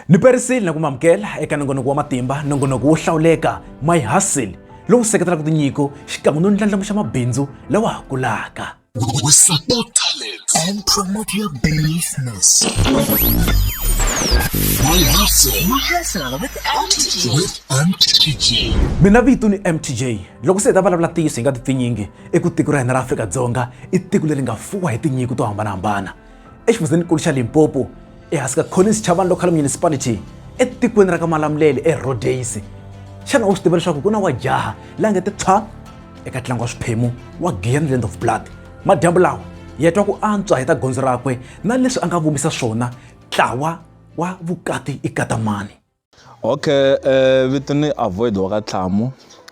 Ni perisile na ku mamukela eka nongonoko wa matimba, nongonoko wo hlawuleka My Hustle lowu seketelaka tinyiko xikan'we no ndlandlamuxa mabindzu lawa ha kulaka. We support talents and promote your business. My hustle. My hustle with MTJ. With MTJ. Mina vito ni MTJ. Loko se hi ta vulavula ntiyiso hi nga ti pfinyingi, i ku tiko ra hina ra Afrika-Dzonga i tiko leri nga fuwa hi tinyiko to hambanahambana. exifundzenikulu xa limpopo ehansi ka collins chavani local municipality etikweni ra ka malamulele erodays xana u swi tiva leswaku ku na wa jaha la nge ti thwa eka ntlangu wa swiphemu wa glen land of blood madyambu lawa ya twa ku antswa hi ta gondzo rakwe na leswi a nga vumisa swona ntlawa wa vukati i katamani Okay vito ni avoid wa ka tlhamu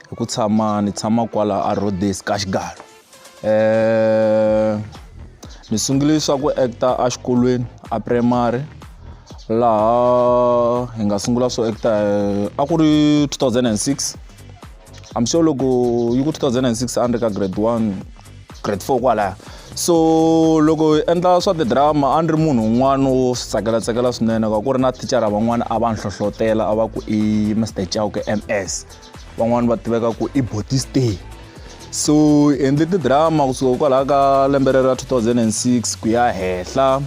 hi ku tshama ni tshama kwala a Rhodes ka xigalo ni sungule swa ku actor a xikolweni a primary laha hi nga sungula swo actor a ku ri two thousand and six I'm sure loko yi ku two thousand and six a ni ri ka grade one grade four kwalaya so loko hi endla swa tidrama a ni ri munhu un'wana wo swi tsakela tsakela swinene ka ku ri na thicara van'wana a va ni hlohlotela a va ku i mr chauke ms van'wana va tiveka ku i botistay so hi endle tidrama kusuka kwalaho ka lembe rero ra 2006 ku ya henhla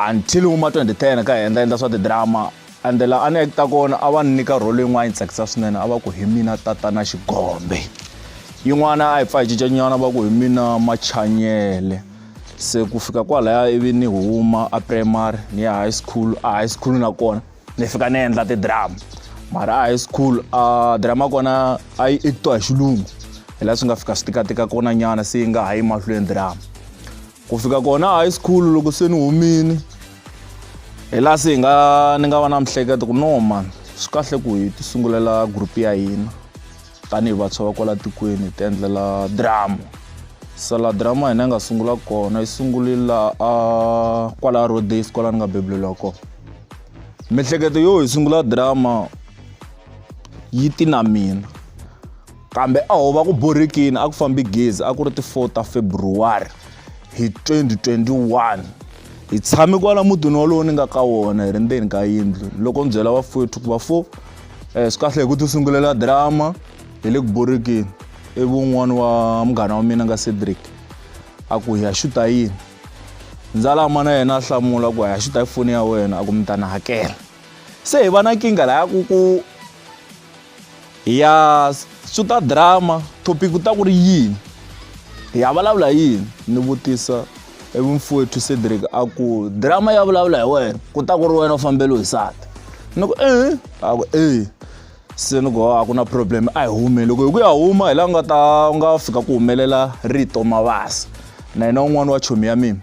until wu ma twenty ten ka hi endla endla swa tidrama and la a ni ekita kona a va ni nyika role yin'wana yi tsakisa swinene a va ku hi mina tatana xigombe yin'wana a hi pfa hi cincanyana va ku hi mina machanyele se ku fika kwalaya ivi ni huma a primary ni ya high school a high school nakona ni fika ni endla tidrama mara a high school a drama kona a yi ekitiwa hi xilungu hi laha swi nga fika swi tikatika kona nyana se yi nga ha yi mahlweni drama ku fika kona high school loko se ni humini hi laha se hi nga ni nga va na mihleketo ku no man swi kahle ku hi ti sungulela group ya hina tanihi vantshwa va kwala tikweni hi ti endlela drama se la drama hina yi nga sungula kona yi sungule laha a kwala road days kwala ni nga bebuleliwa kona mihleketo yo hi sungula drama yi ti na mina Kambe a ho va ku borhekini a ku fambi gezi a ku ri ti 4 ta February hi 2021. Hi tshame kwala mutini walowo ni nga ka wona hi ri ndzeni ka yindlu loko ni byela vafowethu ku vafo um eh, swi kahle hi ku tisungulela drama hi le ku borhekeni ivi un'wana wa munghana wa mina nga Cedric a ku hi ya xuta yini ndzalama na yena a hlamula ku hi ya xuta foni ya wena a ku mi ta ni hakela se hi va na nkingha laya ku ku ya swi ta drama topic ku ta ku ri yini hi ya vulavula yini ni vutisa evumfowethu cedric a ku drama ya vulavula hi wena ku ta ku ri wena u fambele hi sati ni ku e a ku e se ni ku a ku na problem a hi hume loko hi ku ya huma hi la nga ta nga fika ku humelela rito mavasa na yena un'wana wa chomi ya mina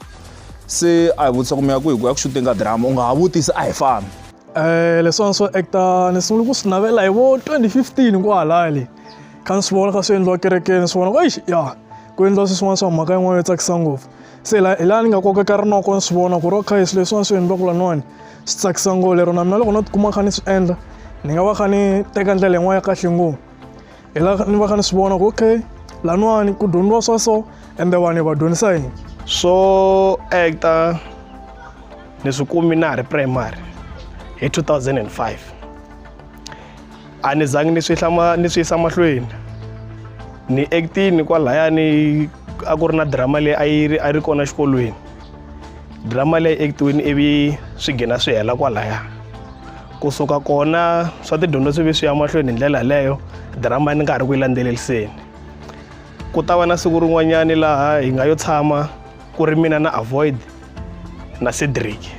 se a hi vutisa ku mi ya ku hi ku ya ku xuteni ka drama u nga ha vutisa a hi fambi eh leswiwani swo act-a ni sungule ku swi navela hi vo twenty fifteen kwahalaya le kha ni swi vona kha swi endliwa kerekeni ni swi vona ku eish ya ku endliwa swilo swin'wana swa mhaka yin'wana yo tsakisa ngopfu se la hi laha ni nga kokeka rinoko ni swi vona ku ri okay swilo leswiwani swi endliwaku laniwani swi tsakisa ngo lero na mina loko no tikuma kha ni swi endla ni nga va kha ni teka ndlela yin'wana ya kahle ngopfu. hi la ni va ka ni swi vona ku okay laniwani ku dyondziwa swa so ende vanhu va dyondzisa yini swo actor ni swi kumi na ha ri primary hi 2005 a ni zangi ni swi hlama ni swi yisa mahlweni ni actini kwalayani a ku ri na drama leyi a yi ri a ri kona xikolweni drama leyi ekitiwini ivi swi gina swi hela kwalaya kusuka kona swa tidyondzo swi ve swi ya mahlweni hi ndlela yaleyo drama ni nga ha ri ku yi landzeleliseni ku ta va na siku rin'wanyani laha hi nga yo tshama ku ri mina na avoid na cedric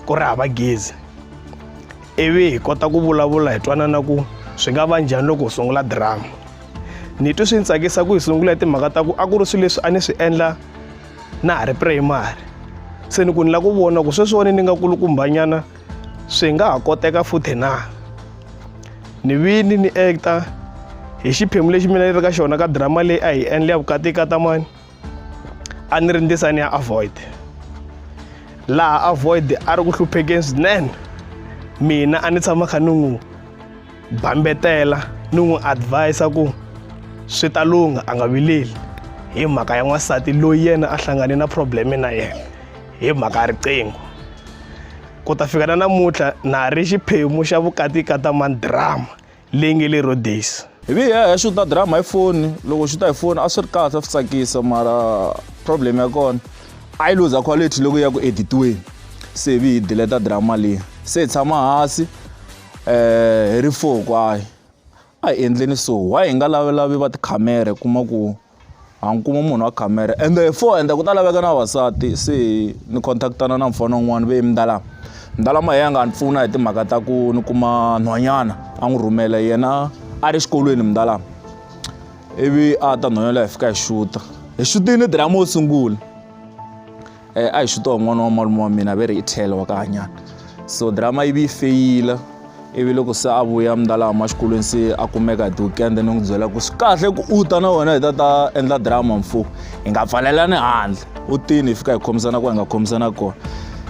ku ri hava gezi ivi hi kota ku vulavula hi twanana ku swi nga va njhani loko hi sungula drama ni twe swi ni tsakisa ku hi sungula hi timhaka ta ku a ku ri swilo leswi a ni swi endla na ha ri primary se ni ku ni lava ku vona ku sweswiwani ni nga kulukumbanyana swi nga ha koteka futhi na ni vini ni acta hi xiphemu lexi mina ni ri ka xona ka drama leyi a hi endle ya vukati ka tamani a ni ri ndisa ni ya avoid laha avoid a ri ku hluphekeni swinene mina a ni tshama kha ni n'wi bambetela ni n'wi advise ku swi ta lungha a nga vileli hi mhaka ya n'wansati loyi yena a hlangane na probleme na yena hi mhaka ya riqingho ku ta fika na namuntlha na ha ri xiphemu xa vukati ka ta mandrama leyi nge le rodesi hi vi ya swi ta drama hi foni loko swi ta hi foni a swi ri kahle a swi tsakisa mara problem ya kona a yi luza quality loko ya ku editiweni se hi vi hi dileta drama leyi se hi tshama hansi eh hi ri four kwaye a hi endleni so why hi nga lavelavi va tikhamere kuma ku ha ni kuma munhu wa khamere ende hi four ende ku ta laveka na vavasati se ni contactana na mufana un'wana ve mdalama mdalama hi ya nga ni pfuna hi timhaka ta ku ni kuma nhwanyana a n'wi rhumela yena a ri xikolweni mdalama ivi a ta nhwanyana hi fika hi xuta hi xutini diramu wo sungula um a hi swi toho n'wana wa malume wa mina ve ri i tlhelo wa kahanyana so drama yi vi yi feyila ivi loko se a vuya mndalama xikolweni se a kumeka hi ti-weekend ni n'wi byela ku swi kahle ku u ta na wena hi ta ta endla drama mfo hi nga pfalelani handle u tini hi fika hi khomisana ku hi nga khomisana kona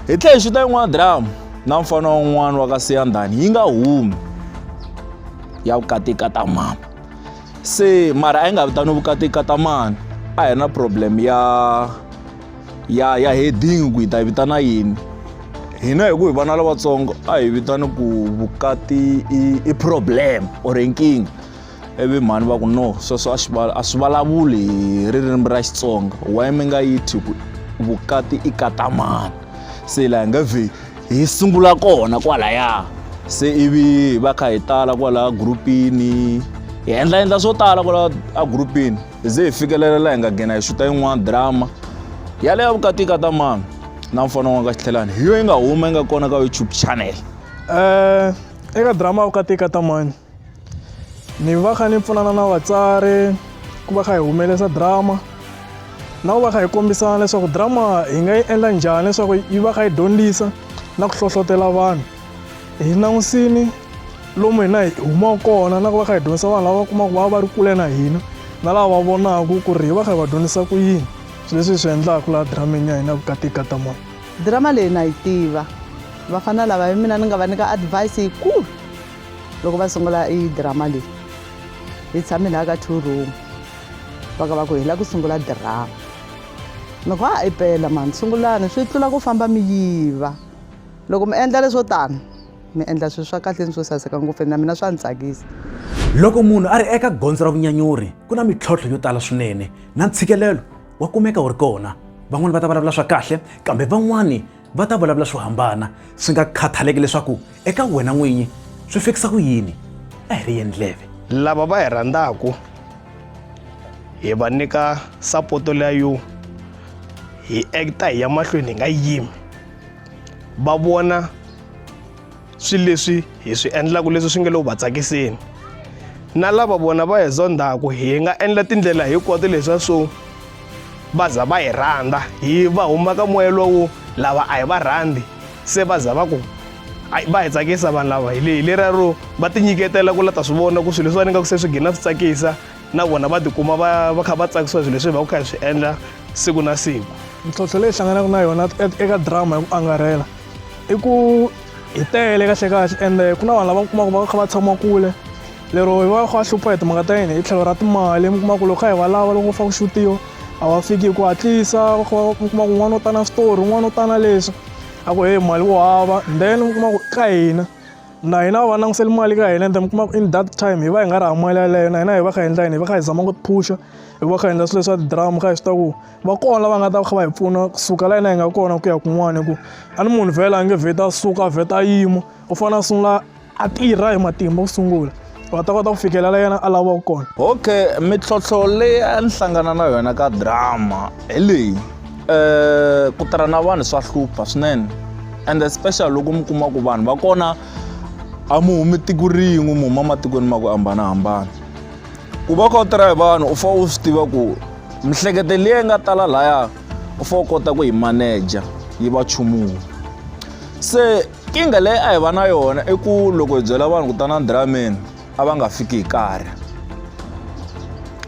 hi tlhe hi xuta yin'wana drama na mfana wun'wana wa ka siyandhani yi nga humi ya vukatikatamama se mara a yi nga vitaniwi vukati katamani a hi na problem ya ya ya heading ku yi ta yi vitana yini hina hi ku hi vana lavatsongo a hi vitani ku vukati i, i problem or nkingha ivi mhani va ku no sweswo a swi a swi vulavuli hi ririmi ra xitsonga why mi nga yi thyi ku vukati i katamani se laha hi nga vheli hi sungula kona kwalaya se ivi hi va kha hi tala kwalaya gurupini hi endla endla swo tala kwala a gurupini hi ze hi fikelela laha hi nga nghena hi xuta yin'wana drama yaleyo vukatika ta mani na mfana wa ka xitlhelani hi yo yi nga huma yi nga kona ka youtube channel um eka drama vukatika ta mani ni va kha ni pfunana na vatsari ku va kha hi humelerisa drama na ku va kha hi kombisana leswaku drama hi nga yi endla njhani leswaku yi va kha yi dyondzisa na ku hlohlotelo vanhu hi langusini lomu hina hi humaka kona na ku va kha hi dyondzisa vanhu lava kumaka va va ri kule na hina na lava va vonaka ku ri hi va kha hi va dyondzisa ku yini swilo leswi hi swi endlaka laha drameni ya hina vukati ka ta moya drama leyi na yi tiva vafana lava hi mina ni nga va nyika advice yikulu loko va sungula i drama leyi hi tshame laha ka two room va ka va ku hi la ku sungula drama ni ku a i pela mani sungulani swi tlula ku famba mi yiva loko mi endla leswo tani mi endla swilo swa kahle ni swo saseka ngopfu na mina swa ni tsakisa loko munhu a ri eka gondzo ra vunyanyuri ku na mitlhontlho yo tala swinene na ntshikelelo wa kumeka wu ri kona van'wani va ta vulavula swa kahle kambe van'wani va ta vulavula swo hambana swi nga khathaleki leswaku eka wena n'winyi swi fikisa ku yini a hi ri yendleve lava va hi rhandzaka hi va nyika sapoto leya yo hi acta hi ya mahlweni hi nga yimi va vona swilo leswi hi swi endlaka leswi swi nga le ku va tsakiseni na lava vona va hi zondzaka hi nga endla tindlela hinkwato leswa swo va za va hi rhandza hi va huma ka moya lowo lava a hi va rhandzi se va za va ku va hi tsakisa vanhu lava hi leriya ro va tinyiketela ku la ta swi vona ku swilo leswi va ni nga ku se swi gina swi tsakisa na vona va tikuma va va kha va tsakisiwa swilo leswi hi va ku kha hi swi endla siku na siku mintlhontlho leyi hlanganaka na yona eka drama hi ku angarhela i ku hi tele kahle kahle ende ku na vanhu lava kumaka va kha va tshama kule lero hi va kha va hlupha hi timhaka ta yini hi tlhelo ra timali mi kuma ku loko kha hi va lava loko va fa ku xutiwa a va fiki hi ku hatlisa va kha va kuma ku un'wana u tana switori un'wana u tana leswi a ku heyi mali wo hava then mi kuma ku ka hina na hina va langutiseli mali ka hina ende mi kuma in that time hi va hi nga ri hava mali yaleyo na hina hi va kha hi endla yini hi va kha hi zama ku tiphusha hi va kha hi endla swilo leswa tidrama kha hi swi ta ku va kona lava nga ta kha va hi pfuna kusuka la hina hi nga kona ku ya kun'wana hi ku a ni munhu vhela a nge vheta suka vheta yimo u fanele a sungula a tirha hi matimba ku sungula va ta kota ku fikela la yena a lavaka kona okay mintlhontlho leyi a ni hlangana na yona ka drama hi leyi um ku tirha na vanhu swa hlupha swinene and especially loko mi kuma ku vanhu va kona a mu humi tiko rin'we mu huma ematikweni ma ku hambanahambana ku va kha u tirha hi vanhu u fanele u swi tiva ku mihlekete leyi nga tala laya u fanele u kota ku yi maneja yi va chumuwa se nkingha leyi a hi va na yona i ku loko hi byela vanhu ku tana dirameni a va nga fiki hi karhi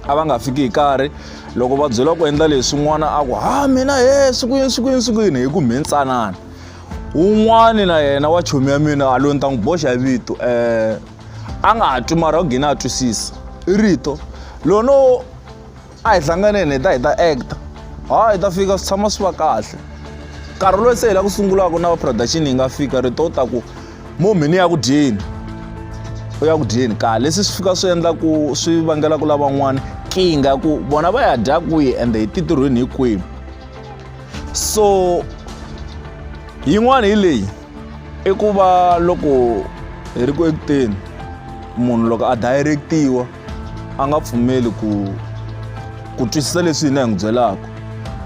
a va nga fiki hi karhi loko va byela ku endla leswi n'wana a ku ha mina he siku yini siku yini siku yini hi ku mhintsanana un'wani na yena wa chomi ya mina a loyi ni ta n'wi boxa vito um a nga ha twi mara u gine a twisisa i rito lono a hi hlanganeni hi ta hi ta actor ha hi ta fika swi tshama swi va kahle nkarhi loyi se hi la ku sungulaka na va production hi nga fika rito u ta ku mumi ni ya ku dyeni u ya ku dyeni kahle leswi swi fika swi endla ku swi vangela ku lavan'wana kinga ku vona va ya dya kwihi ende hi titirhweni hi kwihi so yin'wana hi leyi i ku va loko hi ri ku ekuteni munhu loko a direct-iwa a nga pfumeli ku ku twisisa leswi hina hi n'wi byelaka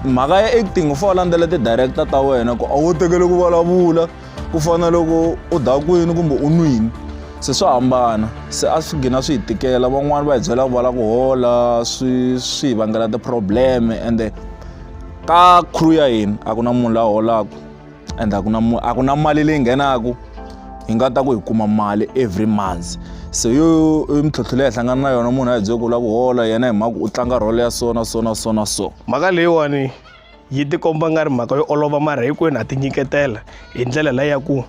mhaka ya acting u fanele u landzela ti-director ta wena ku a wo tekele ku vulavula ku fana loko u dakwini kumbe u nwini se swa hambana se a swi gina swi hi tikela van'wani va hi byela ku va la ku hola swi swi hi vangela ti-problem ende ka crew ya hina a ku na munhu la holaka and a ku na a ku na mali leyi nghenaka hi nga ta ku hi kuma mali every months se yo i mintlhontlho leyi hi hlangana na yona munhu a hi byele ku lava ku hola yena hi mhaka u tlanga rholo ya so na so na so na so mhaka leyiwani yi tikomba nga ri mhaka yo olova mara hinkwenu ha ti nyiketela hi ndlela leyi ya ku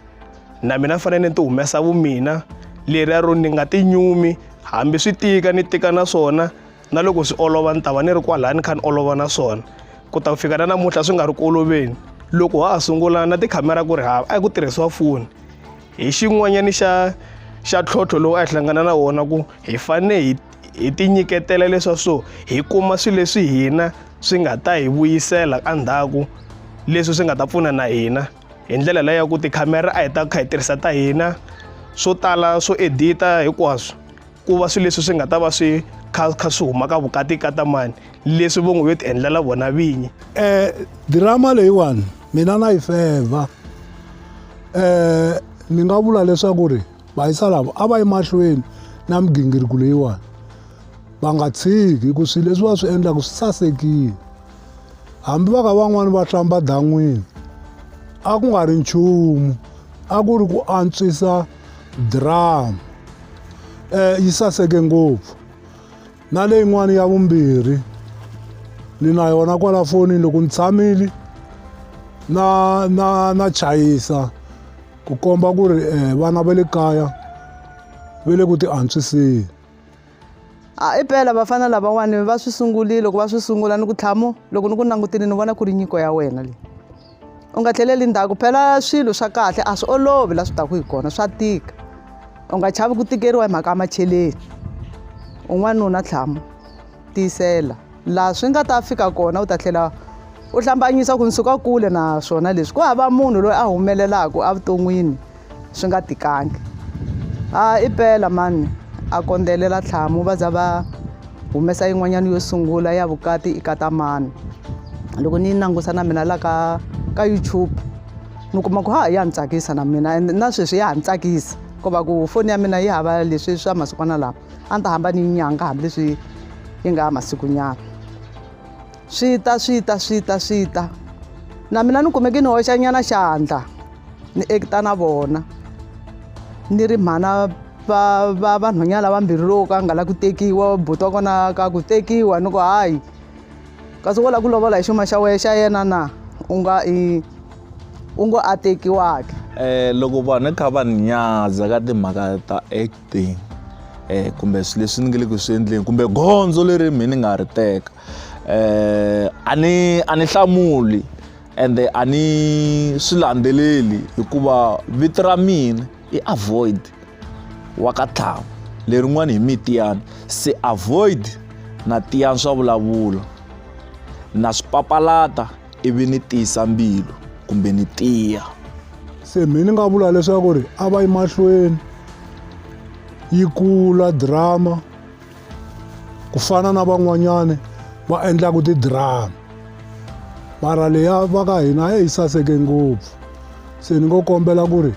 na mina ni fanele ni ti humesa vumina leriya ro ni nga ti nyumi hambi swi tika ni tika na swona na loko swi olova ni ta va ni ri kwalaya ni kha ni olova na swona ku ta ku fika na namuntlha swi nga ri ku oloveni loko ha ha sungula na tikhamera ku ri hava a ku tirhisiwa foni hi xin'wanyana xa xa ntlhontlho lowu a hi hlangana na wona ku hi fane hi hi ti nyiketela leswa so hi kuma swilo leswi hina swi nga ta hi vuyisela endzhaku leswi swi nga ta pfuna na hina hi ndlela leyo ya ku tikhamera a hi ta kha hi tirhisa ta hina swo tala swo edit-a hinkwaswo. ku va swilo leswi swi nga ta va swi kha kha swi huma ka vukati ka tamani leswi vo n'wi yo ti endlela vona vinyi um dirama leyiwani mina na yi feva um ni nga vula leswaku ri vayisa lavo a va yi mahlweni na migingiriko leyiwani va nga tshiki hi ku swilo leswi va swi endlaka swi sasekile hambi va ka van'wani va hlamba dan'wini a ku nga ri nchumu a ku ri ku antswisa drum eh yi saseke ngopfu na leyin'wana ya vumbirhi ni na yona kwala fonini loko ni tshamile na na na chayisa ku komba ku ri eh, vana va le kaya va le ku ti antswiseni A i pela vafana lavawani va swi sungulile loko va swi sungula ni ku tlhamu loko ni ku langutile ni vona ku ri nyiko ya wena leyi u nga tlheleli ndzhaku phela swilo swa kahle a swi olovi la swi taku hi kona swa tika u nga chavi ku tikeriwa hi mhaka ya macheleni un'wanuna tlhamu tiyisela laha swi nga ta fika kona u ta tlhela u hlambanyisa ku ni suka kule naswona leswi ku hava munhu loyi a humelelaka evuton'wini swi nga tikangi a i pela mani a kondzelela tlhamu va za va humesa yin'wanyana yo sungula ya vukati i kata mani loko ni yi langusa na mina la ka ka youtube ni kuma ku ha ya ni tsakisa na mina and na sweswi ya ha ni tsakisa ku va ku foni ya mina yi hava leswi swa masikwana lawa a ni ta hamba ni yi nyanga hambileswi yi nga ha masikunyana swi ta swi ta swi ta swi ta na mina ni kumeke ni hoxanyana xandla ni ekita na vona ni ri mhana va va vanhwanyana lavambirhi loko ka nga la ku tekiwa buti wa kona ka ku tekiwa ni ku hayi kasi wo lava ku lovola hi xuma xa wehe xa yena na u nga i u ngo a tekiwaka um loko vanhu kha va ni nyadza ka timhaka ta thing eh kumbe swilo leswi ni nge le ku swi endleni kumbe gondzo leri mi ni nga ri teka eh a ni a ni hlamuli ende a ni swi landzeleli hikuva vito ra mina i avoid wa ka tlhava lerin'wani hi mi tiyani se avoid na tiyani swa vulavula na swi papalata ivi ni tiyisa mbilu kumbe ni tiya se mi ni nga vula leswaku ri a va yi mahlweni yi kula drama ku fana na van'wanyana va endlaka tidrama mara leya va ka hina a yi saseke ngopfu se ni ngo kombela ku ri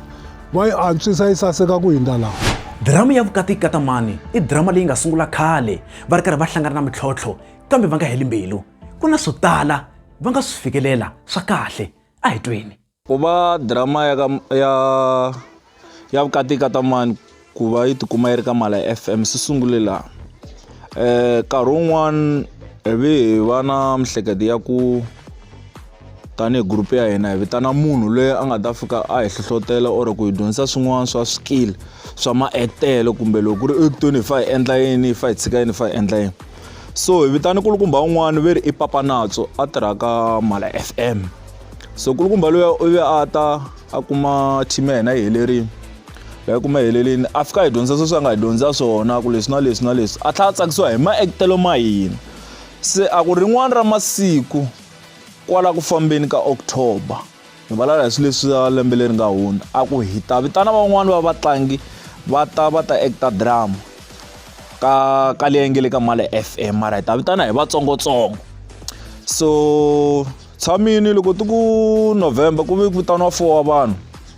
va yi antswisa yi saseka ku hindza laha drama ya vukati katamani i drama leyi nga sungula khale va ri karhi va hlangana na mintlhontlho kambe va nga heli mbilu ku na swo tala va nga swi fikelela swa kahle a hi tweni ku va drama ya ka ya ya vukati ka tamani ku va yi tikuma yi ri ka mala ya fm swi sungule laha um nkarhi wun'wani hi vi hi va na mihleketo ya ku tanihi group ya hina hi vitana munhu loyi a nga ta fika a hi hlohlotela or ku hi dyondzisa swin'wana swa swikili swa maektelo kumbe loko ku ri ektweni hi fa hi endla yini hi fa hi tshika yini hi fa hi endla yini so hi vitane kulukumba un'wana ve ri i papa natso a tirhaka mhala f m so kulukumba loyi u ve a ta a kuma team ya hina yi helerile ya kuma helelini a fika hi dyondzisa sweswi a nga hi dyondzisa swona ku leswi na leswi na leswi a tlhela a tsakisiwa hi maektelo ma hina se a ku rin'wana ra masiku Kwala ku fambeni ka October hi vulavula hi swilo leswi swa lembe leri nga hundza a ku hi ta vitana van'wani va vatlangi va ta va ta actor drama ka ka leyi nge le ka Male F_M mara hi ta vitana hi vatsongotsongo so tshamile loko ti ku November ku ve ku vitaniwa four wa vanhu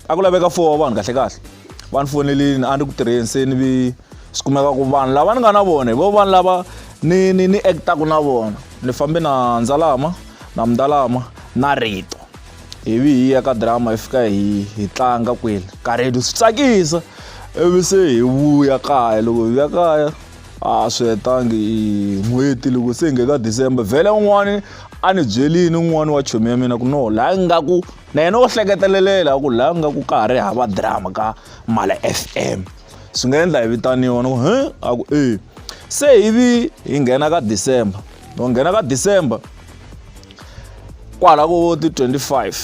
a ku laveka four wa vanhu kahlekahle. va ni fonelini a ni ku tirheni se ni vi swi kumeka ku vanhu lava ni nga na vona hi vo vanhu lava ni ni ni act-aku na vona ni fambe na ndzalama na mundalama na rito hi vi hi ya ka drama hi fika hi hi tlanga kwele ka rito swi tsakisa ivi se hi vuya kaya loko hi vuya kaya a swi hetangi n'hweti loko se hi nge ka december vhele un'wani a ni byelini un'wani wa chomi ya mina ku no laha ngaku Na yena wo hleketelela a ku laha ku nga ku ka ha ri hava drama ka Mala F_M swi nga endla hi vitaniwa ni ku he a ku e se hi vi hi nghena ka December ni ku nghena ka December kwala vo ti twenty five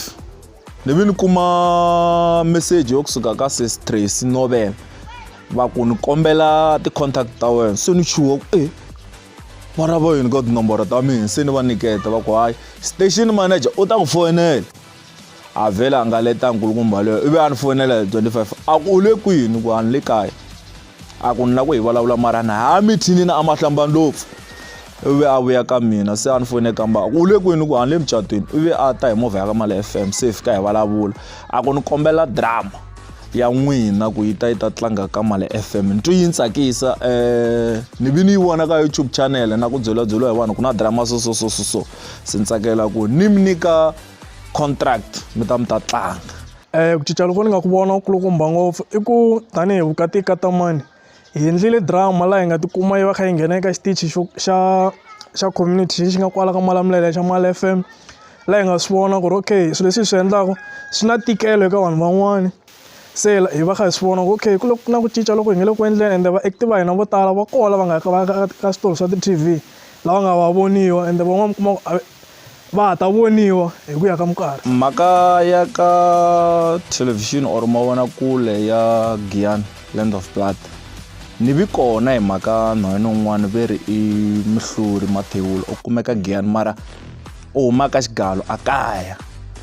ni vi ni kuma meseji yo kusuka ka sesi Tracy Nobela va ku ni kombela ti-contact ta wena se ni chuha ku e. mara vo yini ka tinomboro ta mina se ni va niketa va ku hayi station manager u ta ku foyinela a vhele a nga leta nkulukumba leyo ivi a ni foyinela hi 25 a ku u le kwini ku a ni le kaya a ku ni la ku hi vulavula mara ni ha mithinini a ma hlamba ndlopfu ivi a vuya ka mina se a ni foyine kamba a ku u le kwini ku a ni le mucatwini ivi a ta hi movha ya ka mali f m se hi fika hi vulavula a ku ni kombela drama ya n'wina ku yi ta yi ta tlanga ka mali fm ni twi yi ni tsakisa um ni vi ni yi vona ka youtube channel na ku byelabyeliwa hi vanhu ku na drama so so so so so se ni tsakela ku ni mi nyika contract mi ta mi ta tlanga um ku cinca loko ni nga ku vona ku kulukumba ngopfu i ku tanihi vukati ka tamani hi endlile drama laha hi nga tikuma yi va kha yi nghena eka xitichi xo xa xa community xi xi nga kwala ka Malamulele xa Mali F_M laha hi nga swi vona ku ri okay swilo leswi hi swi endlaka swi na ntikelo eka vanhu van'wana se hi va kha hi swi vona ku okay ku le ku na ku cinca loko hi nga le ku endleni ende vaaki va hina vo tala va kona va nga ka va ka ka switori swa ti-T_V lava nga va voniwa ende van'wana mi kuma ku a . va ha ta voniwa hi ku ya ka minkarhi mhaka ya ka thelevhixini or mavonakule ya giyani land of blood ni vi kona hi mhaka nhwanyana un'wana ve ri i muhluri mathewula u kumeka giyani mara u humaka xigalo a kaya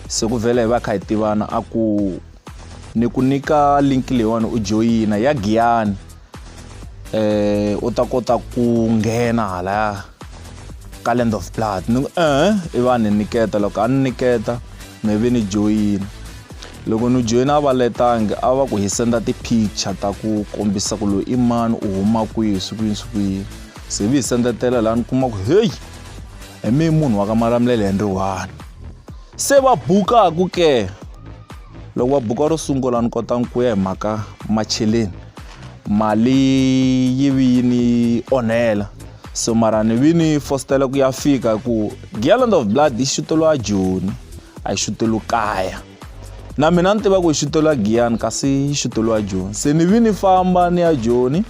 se ku vhele hi va kha hi tivana a ku ni ku nyika link leyiwani u joyina ya giyani eh u ta kota ku nghena hala ka land of blood ni ku eh i va ni niketa loko a ni niketa mi vi ni joyina loko ni joyina a va letangi a va ku hi senda ti-picture ta ku kombisa ku loyi i mani u huma kwihi swi kuyini swi kuyini se vi hi sendetela laha ni kuma ku heyi hi mi munhu wa ka malamulele hi ri one se va bukaku ke loko va buka ro sungula ni kota ku ya hi mhaka macheleni mali yi vi yi ni onhela so mara ni vi ni fositela ku ya fika hi ku gialand of blood yi xuteriwa joni a yi xuteriwi kaya na mina ni tiva ku yi xuteriwa giyani kasi yi xuteriwa joni se ni vi ni famba ni ya joni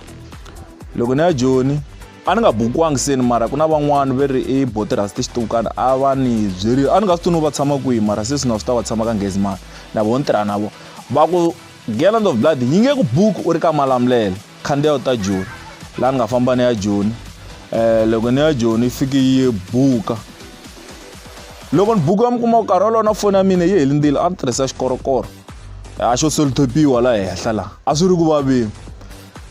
loko ni ya joni a ni nga bukiwangi seni mara ku na van'wani ve ri i botirasi tixituwukani a va ni byeri a ni nga swi tuni va tshama kwihi mara se swi na swi ta va tshama ka ngezi mani na vo ni tirha na vo va ku gallant of blood yi nge ku buki u ri ka malamulele khandziya u ta joni laha ni nga famba ni ya joni um loko ni ya joni yi fiki yi buka loko ni buku ya mi kuma ku karhi wolowo na foni ya mina yi helindzile a ni tirhisa xikorokoro a xo solitopiwa la henhla laha a swi ri ku vaveni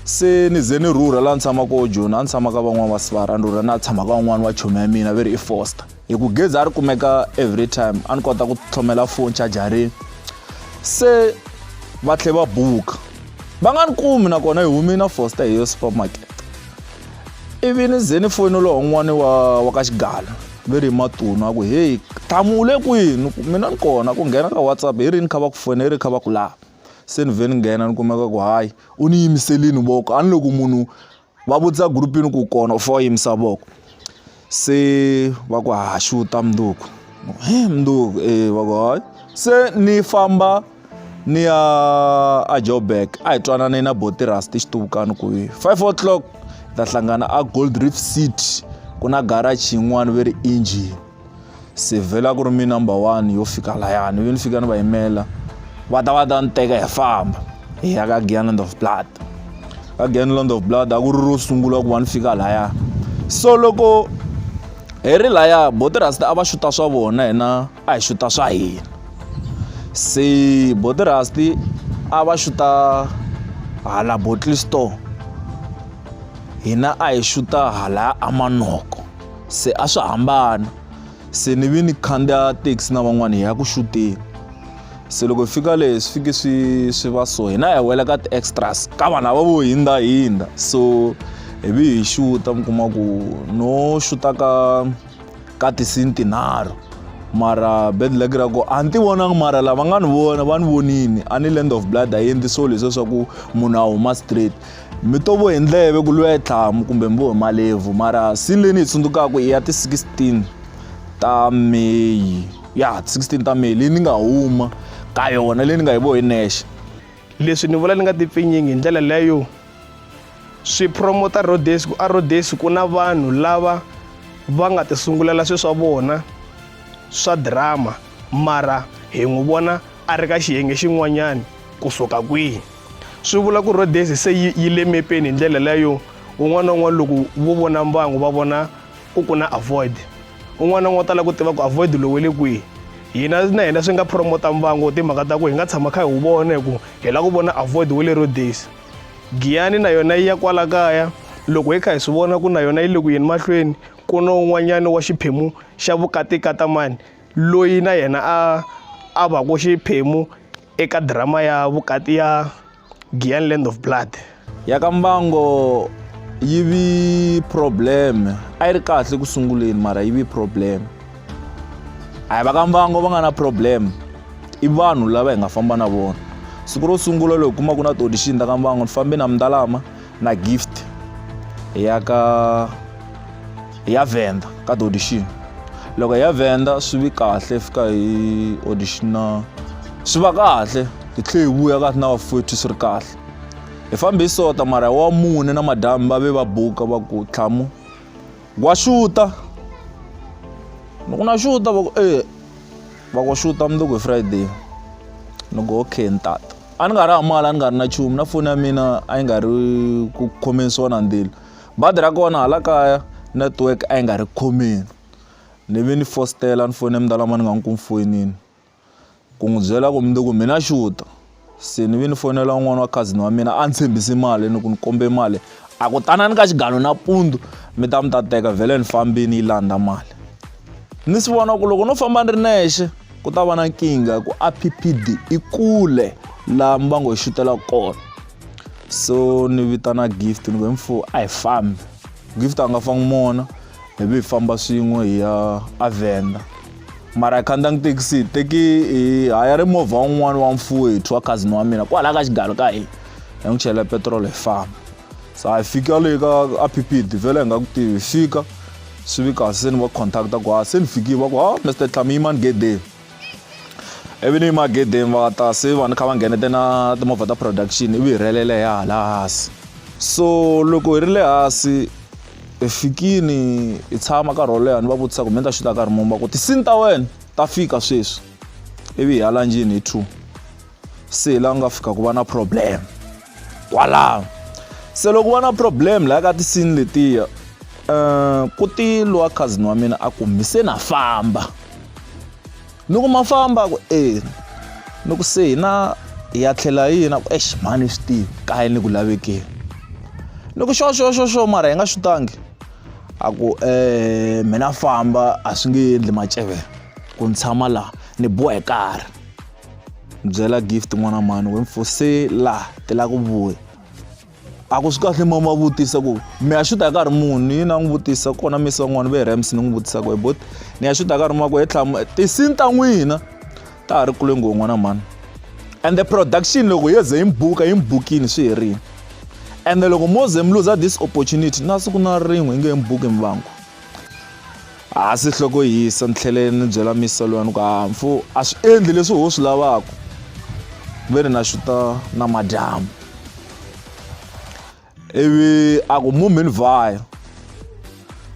se ni ze ni rhurha laha ni tshamaka koho joni a ni tshama ka van'wana va sivara a ni rhurha na tshama ka van'wana va chomi ya mina va ri i foster hi ku gezi a ri kumeka every time a ni kota ku tlhomela foni chajarini se va tlhe va buka va nga ni kumi nakona hi humi na foster hi yo supermarket ivi ni ze ni foyinela wun'wani wa wa ka xigala ve ri matunu a ku heyi thamu u le kwini mina ni kona ku nghena ka whatsapp hi rini kha va ku fona hi ri kha va ku lava se ni vhe ni nghena ni kumeka ku hayi u ni yimiselini voko a ni loko munhu va vutisa group-ini ku kona u fanele u yimisa voko se va ku ha xuta mundzuku he mundzuku e va ku hayi se ni famba ni ya a joburg a hi twanane na botirus tixituvukani ku hi five o'clock ta hlangana a gold reef city ku na garage yin'wani ve ri engine se vhela ku ri mi number one yo fika layani yo ni fika ni va yimela va ta va ta ni teka hi famba hi ya ka gianland of blood ka gianland of blood a ku ri ro sungula ku va ni fika laya so loko hi ri laya botirasta a va xuta swa vona hina a hi xuta swa hina se botirasti a va xuta hala bottle store hina a hi xuta hala amanoko se a swi hambana se ni vi ni khandziya taxi na van'wana hi ya ku xuteni se loko hi fika leyi swi fike swi swi va so hina hi wela ka ti-extras ka vanhu lava vo hindza hindza so hi vi hi xuta mi kuma ku no xuta ka ka tisini tinharhu mara bed leg ra ko a ni ti vonanga mara lava nga ni vona va ni vonini a ni land of blood a yi endli so leswiya swa ku munhu a huma straight mi to vo hi ndleve ku lwiwa tlhamu kumbe mi vo hi malevhu mara sini leyi ni yi tsundzukaka i ya ti-16 ta meyi ya ti-16 ta meyi leyi ni nga huma ka yona leyi ni nga yi vo hi nexe leswi ni vula ni nga tipfinyingi hi ndlela leyo swi promota rhodes ku a rhodes ku na vanhu lava va nga tisungulela swi swa vona swa drama mara hi n'wi vona a ri ka xiyenge xin'wanyani kusuka kwihi swi vula ku rhodesi se yi, yi le mepeni hi ndlela leyo un'wana na un'wana loko vo vona mbangu va vona ku ku na avoid un'wana na un'wana u tala ku tiva ku avoid lowu we le kwihi hina na hina swi nga promota mbangu timhaka ta ku hi nga tshama kha hi wu vona hi ku hi lava ku vona avoid we le rhodesi giyani na yona yi ya kwala kaya loko hi kha hi swi vona ku na yona yi le ku yeni mahlweni ku na un'wanyana wa xiphemu xa vukatikatamani loyi na yena a a va ku xiphemu eka drama ya vukati ya Giyani Land of Blood. Ya ka Mbango yi vi problem a yi ri kahle ku sunguleni mara yi vi problem a hi va ka Mbango va nga na problem i vanhu lava hi nga famba na vona siku ro sungula loko kuma ku na ti-audition ta ka Mbango ni fambe na Mdalama na gift hi ya ka hi ya venda ka audition loko hi ya venda swi vi kahle fika hi auditiona swi va kahle hi tlhe hi vuya ka na vafowethu swi ri kahle hi fambe hi sota mara wa mune na madamu va ve va buka va ku tlhamu wa xuta loko na xuta va ku e va ku xuta mundzuku hi friday ni ku okay ni tata a ni nga ri mali a ni nga ri na nchumu na foni ya mina a yi nga ri ku khomeni swona ndzilo badi ra kona hala kaya network a yi nga ri khomeni ni vi ni fositela ni fone mdala ma ni nga n'wi ku mi foyinini ku n'wi byela ku mundzuku mina xuta se ni vi ni fonela un'wana wa cousin wa mina a ni tshembisi mali ni ku ni kombe mali a ku tanani ka xigalo nampundzu mi ta mi ta teka vhele ni fambini yi landza mali ni swi vona ku loko no famba ni ri nexe. ku ta va na nkingha ku appd i kule laha mbango hi xutela kona so ni vitana gift ni ku mfo a hi fambi gift a nga fangi mona hi vi hi famba swin'we hi ya avenda mara hi khandziya ngi thekisi teki hi haya ri movha wun'wana wa mfuwethu wa cousin wa mina kwalaha ka xigalo ka hina hi n'wi chela petirolo hi famba sa hi fika le ka a phipiti vhele hi nga ku tivi fika swi vi kahle se ni va contacta ku ha ah, se ni fikile va ku ha ah, mr tlami yimani gedeni ivi ni yima gedeni va ta se va ni kha va nghenete na timovha ta production ivi hi rhelele hi hala hansi so loko hi ri le hansi hi fikini hi tshama nkarhi wo leha ni va vutisa ku mi ni ta xuta nkarhi mumba ku tisini ta wena ta fika sweswi ivi hi ya lanjini hi two se la ku nga fika ku va na problem kwalaho se loko va na problem laha ka tisini letiya um ku ti lowa cousin wa mina a ku mi se na famba ni ku ma famba ku e ni ku se hina hi ya tlhela yina ku exi mhani swi tivi kaya ni ku lavekeni ni ku xo xo xo xo mara hi nga swi tangi a ku um mina famba a swi nge endli macevela ku ni tshama laha ni bohe karhi byela gift n'wana mhani we mfo se laha ti lava ku vuya a ku swi kahle mama vutisa ku mi ya xuta nkarhi muni yini a n'wi vutisa kona misi van'wana ve rams ni n'wi vutisa ku bot ni ya xuta nkarhi mako he tlhama tisini ta n'wina ta ha ri kule ngo n'wana mhani and the production loko yo ze yi mi buka yi mi bukini swi herile ende loko mo ze mi luza this opportunity na siku na rin'we yi nge mi buki mvangu Hansi nhloko yi hisa ni tlhele ni byela misa luya ni ku ha mfu a swi endli leswi ho swi lavaka ve ni na xuta na madyambu ivi a ku mumi ni vhaya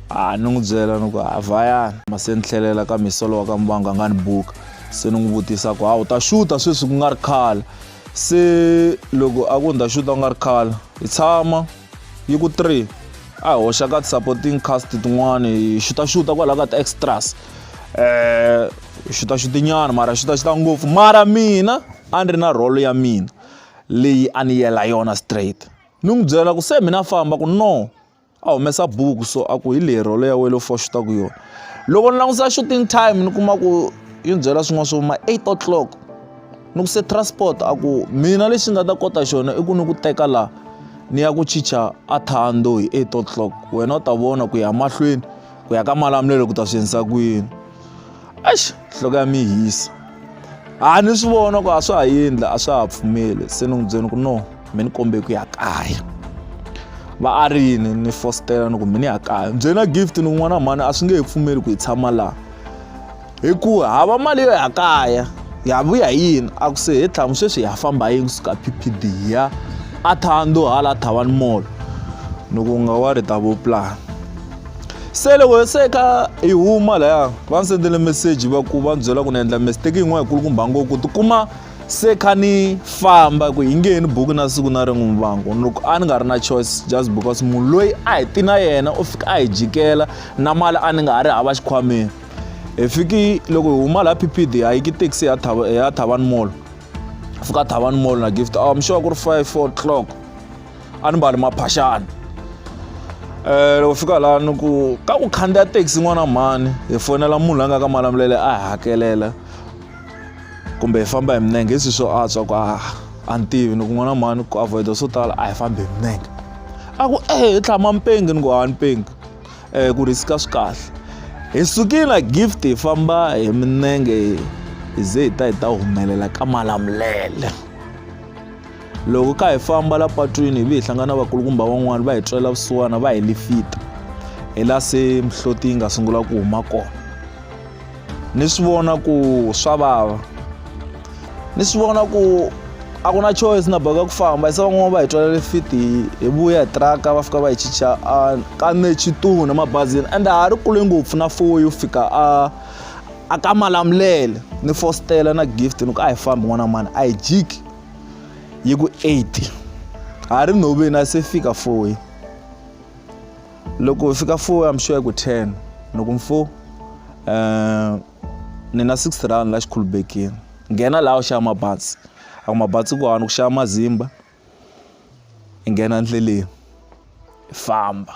a ni n'wi byela ni ku ha vhayana ma se ni tlhelela ka misa lowa ka mbangu a nga ni buka se ni n'wi vutisa ku ha u ta xuta sweswi ku nga ri khale se loko a ku ni ta xuta ku nga ri khale hi tshama yi ku 3 a hoxa ka supporting cast tin'wana hi xutaxuta kwalaho ka ti-extras um xutaxutinyana mara xutaxuta ngopfu mara mina a ni ri na rholo ya mina leyi a ni yela yona straight ni n'wi byela ku se mina famba ku no a humesa buku so a ku hi leyi rholo ya wena fo xutaku yona loko ni langutisa shooting time ni kuma ku yi ni byela swin'wana swo ma eight o'clock. ni ku se transport a ku mina lexi nga ta kota xona i ku ni ku teka laha ni ya ku chicha a thando hi eight o'clock wena u ta vona ku ya mahlweni ku ya ka malamulelo ku ta swi endlisa ku yini ax nhloko ya mi hisa a ni swi vona ku a swa ha endla a swa ha pfumeli se ni n'wi byeni ku no mi ni kombe ku ya kaya va a ri yini ni fositela ni ku mi ni ya kaya byena gift ni kun'wana mhani a swi nge he pfumeli ku hi tshama laha hi ku hava mali yo ya kaya hi ya vuya hi yini a ku se he tlhamu sweswi hi ya famba yini kusuka PPD hi ya a thando hala thavani mall ni ku nga wa ri ta vo plan se loko se ka hi huma laya va ni sendele meseji va ku va ni byela ku ni endla mistake yin'wana yikulukumba ngo ku tikuma se kha ni famba ku hi nge ni buku na siku na rin'we vangu loko a ni nga ri na choice just because munhu loyi a hi ti na yena u fika a hi jikela na mali a ni nga ha ri hava xikhwameni hi fiki loko hi huma laha ppd a yiki taxi ya thava ya thavan mall fika thavan mall na gift oh, i'm sure ku ri 5 o'clock a ni mbali maphaxani eh loko fika laha ni ku ka ku khandziya taxi n'wana mhani hi fonela munhu la nga ka malamulele a hi hakelela kumbe hi famba hi minenge hi swi swo antswa ku a a ni tivi ni ku n'wana mhani ku avoida swo tala a hi fambi hi minenge a ku ehe hi tlhama mpengi ni ku a ni pengi eh, ku risk-a swi kahle hi sukile na gift hi famba hi minenge hi ze hi ta hi ta humelela ka malamulele loko ka hi famba la patwini hi vi hi hlangana vakulukumba van'wana va hi tswela vusiwana va hi lifita hi la se mihloti yi nga sungula ku huma kona ni swi vona ku swa vava ni swi vona ku a ku na choice na boheka ku famba se van'wana va hi twalele fiti hi vuya hi tiraka va fika va hi chicha a ka nechitunu emabazini and a ha ri kule ngopfu na four yo fika a a ka malamulele ni fositela na gift ni ku a hi fambi n'wana mani a hi jiki yi ku eight ha ri nhoveni a se fika four loko fika 4 am sure ku 10 loko mfo um eh, ni na 6 round la xikhulubekini nghena laha u xava mabatsi a ku mabatsi ku hanu ku xava mazimba i nghena ndleleni i famba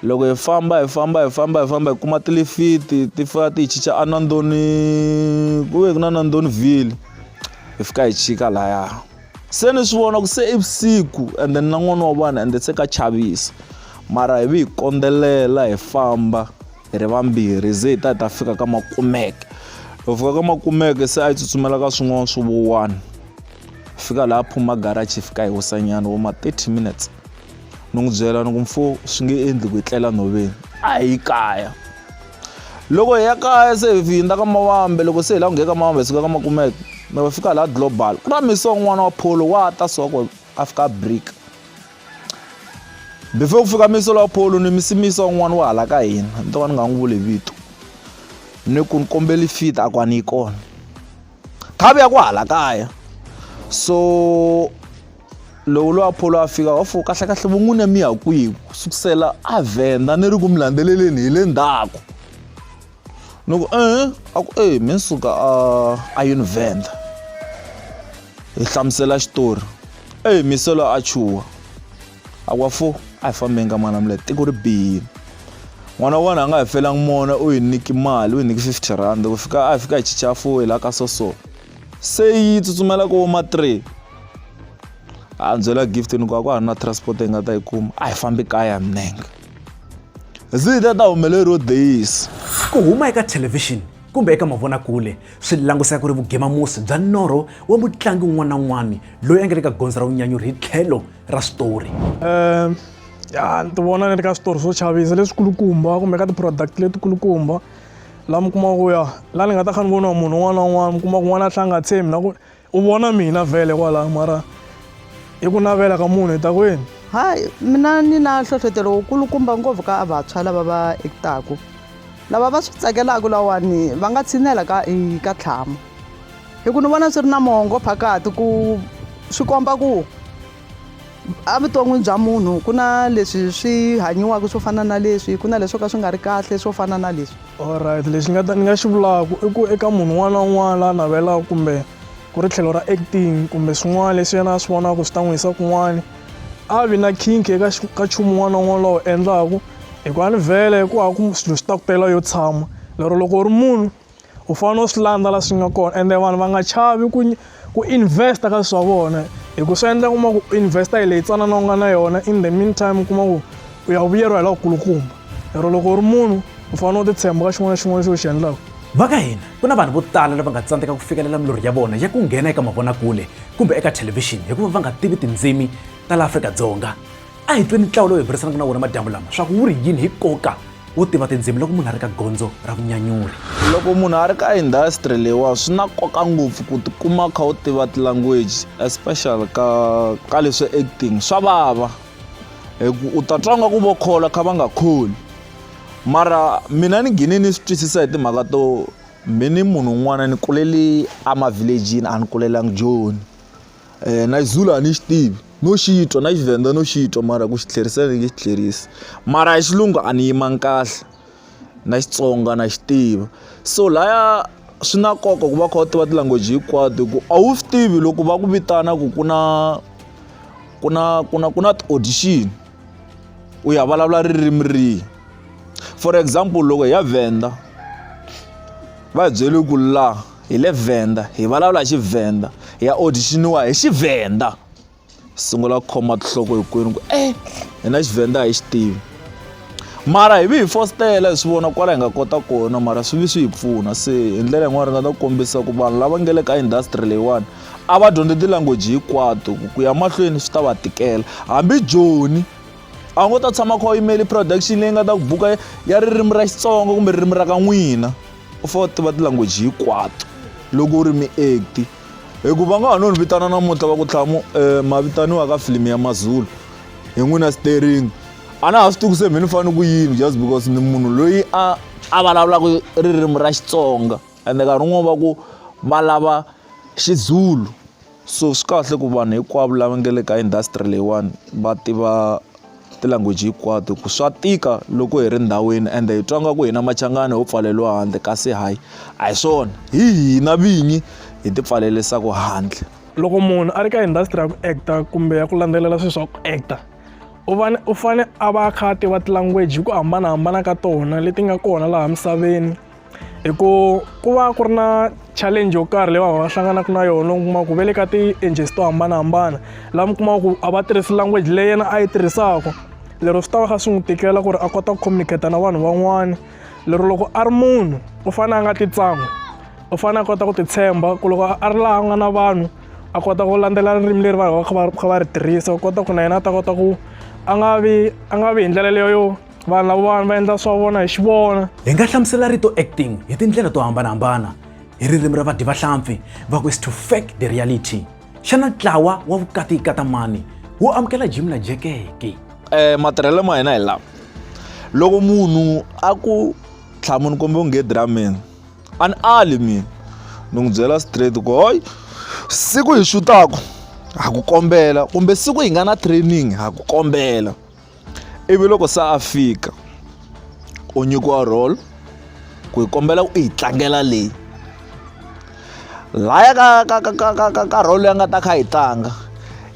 loko hi famba hi famba hi famba hi famba hi kuma tilifiti ti fika ti hi chicha anandoni ku ve ku na nandoniville hi fika hi chika lahaya se ni swi vona ku se i vusiku ende ni na n'wana wa vanhu ende se ka chavisa mara hi vi hi kondzelela hi famba hi ri vambirhi ze hi ta hi ta fika ka makumeke hi fika ka makumeke se a yi tsutsumela ka swin'wana swi vo one fika laha phuma garachi fika hi wisanyana vo ma 30 minutes ni n'wi byela ni ku mfo swi nge endli ku hi tlela nhoveni a hi kaya loko hi ya kaya se hi hindza ka mawambe loko se hi la ku ngheka ka mawambe hi suka ka makumeke mi va fika laha global ku na misi wa n'wana wa pholo wa ta so ko a fika brick before ku fika misi wa pholo ni misi misi wa n'wana wa hala ka hina ni to ka ni nga n'wi vuli vito ni ku ni kombeli fit a ku a ni yi kona khavi ya ku hala kaya so loko loyi apholo a fika wa fo kahlekahle vun'wina mi ya kwihi ku sukusela a vhenda ni ri ku mi landzeleleni hi le ndzhaku ni ku e a ku e mi suka a a yi ni vhenda hi hlamusela xitori e miselo a chuha Akwafo a hi fambeni ka mwana mule tiko ri bihile n'wana wa wena a nga hi felanga mona u hi niki mali u hi niki 50 rand ku fika a fika hi chicha fo hi la ka soso se yi tsutsumela ko ma 3 a byela gift ni ku a ku ha ri na transport hi nga ta yi kuma a hi fambi kaya minenge zita ta humeleriwo days ku huma eka thelevhixini kumbe eka mavonakule swi languseka ku ri vugemamusi bya norho wa mutlangi un'wana na un'wana loyi a nga le ka gondzo ra vunyanyuri hi tlhelo ra switori um ya ni ti vona ni ri ka switori swo chavisa leswikulukumba kumbe ka ti-product letikulukumba laha mi kumaka ku ya laha ni nga ta kha ni voniwa munhu un'wana na un'wana mi kuma ku n'wana a tlha a nga tshembi na ku u vona mina vhele kwalaho mara hi ku navela ka munhu hi ta kwini hayi mina ni na nhlohlotelo wukulukumba ngopfu ka vantshwa lava va ekitaku lava va swi tsakelaka lawani va nga tshinela ka ka tlhama hi ku ni vona swi ri na mongo phakati ku swi komba ku evuton'wini bya munhu ku na leswi swi hanyiwaka swo fana na leswi ku na leswo ka swi nga ri kahle swo fana na leswi allright lexi ni nga ta ni nga xi vulaka i ku eka munhu un'wana na un'wana la navelaka kumbe ku ri tlhelo ra acting kumbe swin'wana leswi yena a swi vonaka swi ta n'wi yisa kun'wana a vi na khinkhi eka ka nchumu un'wana na un'wana lowu endlaku hikuva ni vhele ku hava ku swilo swi ta ku tela yo tshama lero loko u ri munhu u fanele u swi landza la swi nga kona ende vanhu va nga chavi ku ku invest ka swa vona hi ku swi endla kuma ku invest hi leyi tsanana u nga na yona in the mean time u kuma ku u ya vuyeriwa hi la kulukumba lero loko u ri munhu u fanele u ti tshemba ka xin'wana na xin'wana lexi u xi endlaka va ka hina ku na vanhu vo tala lava nga tsandzeka ku fikelela milorho ya vona ya ku nghena eka mavonakule kumbe eka thelevhixini hikuva va nga tivi tindzimi ta la afrika dzonga a hi tweni ntlawa lowu hi burisanaka na wona madyambu lama swa ku wu ri yini hi koka wo tiva tindzimi loko munhu a ri ka gondzo ra vunyanyuri loko munhu a ri ka industry leyiwa swi na nkoka ngopfu ku tikuma kha u tiva tilanguage especially ka ka leswi acting swa vava hi ku u ta twa nga ku vo khola kha va nga kholi mara mina ni gine ni swi twisisa hi timhaka to mi ni munhu un'wana ni kulele amavhilejini a ni kulelangi joni na Xizulu a ni xi tivi no xi twa na Xivenda no xi twa mara ku xi tlherisa ni nge xi tlherisi mara ya xilungu a ni yimanga kahle na Xitsonga na xi tiva so laya swi na nkoka ku va u kha u tiva ti-language hinkwato hi ku a wu swi tivi loko va ku vitana ku ku na ku na ku na ku na ti-audition u ya vulavula ririmi rihi for example loko hi ya Venda va hi byele ku laha. hi le Venda hi vulavula hi Xivenda hi ya audition-iwa hi Xivenda sungula ku khoma tinhloko hinkwenu ku e hina Xivenda hi xi tivi mara hi vi hi fositela hi swi vona kwala hi nga kota kona mara swi vi swi hi pfuna se hi ndlela yin'wana ri nga ta ku kombisa ku vanhu lava nge le ka industry leyiwani a va dyondze ti-language hinkwato ku ya mahlweni swi ta va tikela hambi joni a wu ngo ta tshama kha u yimeli production leyi nga ta ku buka ya ririmi ra Xitsonga kumbe ririmi ra ka n'wina. u fanele u tiva ti-language hinkwato loko u ri mi-act-i hi ku va nga ha no ni vitana namuntlha va ku tlhamu um ma vitaniwa ka filimi ya mazulu hi n'wina stering a na ha swi tivi ku se mhe ni fanele ku yini just because ni munhu loyi a a vulavulaka ririmi ra xitsonga ende nkarhi wun'wani va ku va lava xizulu so swi kahle ku vanhu hinkwavo lava nga le ka industry leyiwani va tiva ti-language hinkwato ku swa tika loko hi ri ndhawini ende hi twa nga ku hina machangani ho pfaleriwa handle kasi hayi a hi swona hi hina vinyi hi ti pfalerisaku handle loko munhu a ri ka industry ya ku acta kumbe ya ku landzelela swilo swa ku acta u vane u fane a va a kha a tiva ti-language hi ku hambanahambana ka tona leti nga kona laha misaveni. hi ku ku va ku ri na challenge yo karhi leyi vanhu va hlanganaka na yona u kuma ku ve le ka ti-ages to hambanahambana laha mi kumaka ku a va tirhisi language leyi yena a yi tirhisaka lero swi ta va kha swi n'wi tikela ku ri a kota ku communicate na vanhu van'wana lero loko a ri munhu u fanele a nga ti tsan'wi u fanele a kota ku titshemba ku loko a ri laha a nga na vanhu a kota ku landzela ririmi leri vanhu va kha va kha va ri tirhisa u kota ku na yena a ta kota ku a nga vi a nga vi hi ndlela leyo yo vanhu lavawani va endla swa vona hi xi vona hi nga hlamusela rito acting hi tindlela to hambanahambana hi ririmi ra vadyi vahlampfi va ku is to fake the reality xana ntlawa wa vukati ikatamani wu amukela jim na jekeke eh matirhelo ma hina hi lawa loko munhu a ku tlhamuni kumbe u nge dramini a ni ali mina ni n'wi byela straight ku hoy siku hi xutaku ha ku kombela kumbe siku hi nga na training ha ku kombela ivi loko se a fika u nyikiwa role ku hi kombela u yi tlangela leyi laya ka ka ka ka ka ka ka role leyi a nga ta kha yi tlanga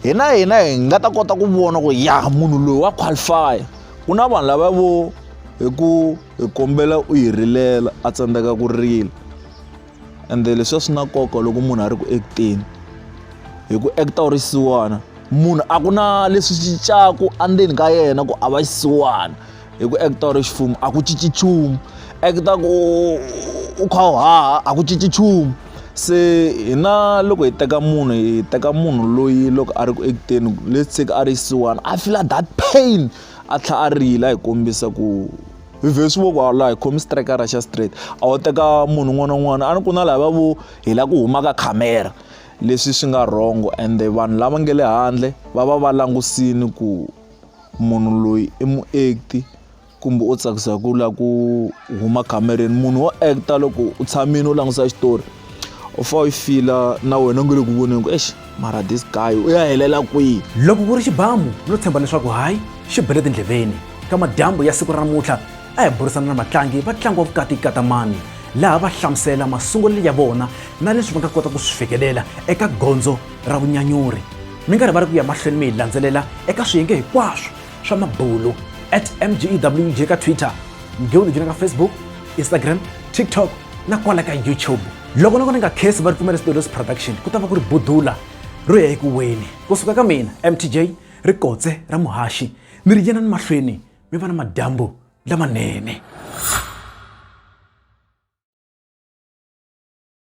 hina hina hi nga ta kota ku vona ku ya munhu loyi wa qualify ku na vanhu lava vo hi ku hi kombela u hi rilela a tsandzeka ku rila. ende leswi a swi na nkoka loko munhu a ri ku act-eni hi ku act-a u ri xisiwana munhu a ku na leswi cincaku andzeni ka yena ku a va xisiwana hi ku act-a u ri ximfumo a ku cinci nchumu act-a ku u kha u haha a ku cinci nchumu se hina loko hi teka munhu hi teka munhu loyi loko a ri ku act-eni let's say a ri xisiwana a feel-a that pain a tlhela a rila a hi kombisa ku. vhesi vo ku a la hi khomi strikara xa straight a wu teka munhu un'wana na un'wana a ni ku na lava vo hi la ku huma ka khamera leswi swi nga wrong and vanhu lava nge le handle va va va langusini ku munhu loyi i muakti kumbe u tsakisa ku la ku huma khamereni munhu wo act loko u tshamile u langutisa xitori u fa u fila na wena u nge le ku voneni ku exi mara this guy u ya helela kwihi loko ku ri xibamu no tshemba leswaku hayi xi bele tindleveni ka madyambu ya siku ra namuntlha a hi burisana na vatlangi va ntlangu wa vukati katamani laha va hlamusela masungulelo ya vona na leswi va nga kota ku swi fikelela eka gondzo ra vunyanyuri mi nga rivali ku ya mahlweni mi hi landzelela eka swiyenge hinkwaswo swa mabulu at mgewj ka twitter mgewj na ka facebook instagram tiktok na kwala ka youtube loko na ku ni nga khesi va ripfumela studios production ku ta va ku ri budula ro ya eku weni kusuka ka mina mtj ri kotse ra muhaxi mi ri yena ni mahlweni mi va na madyambu lamanene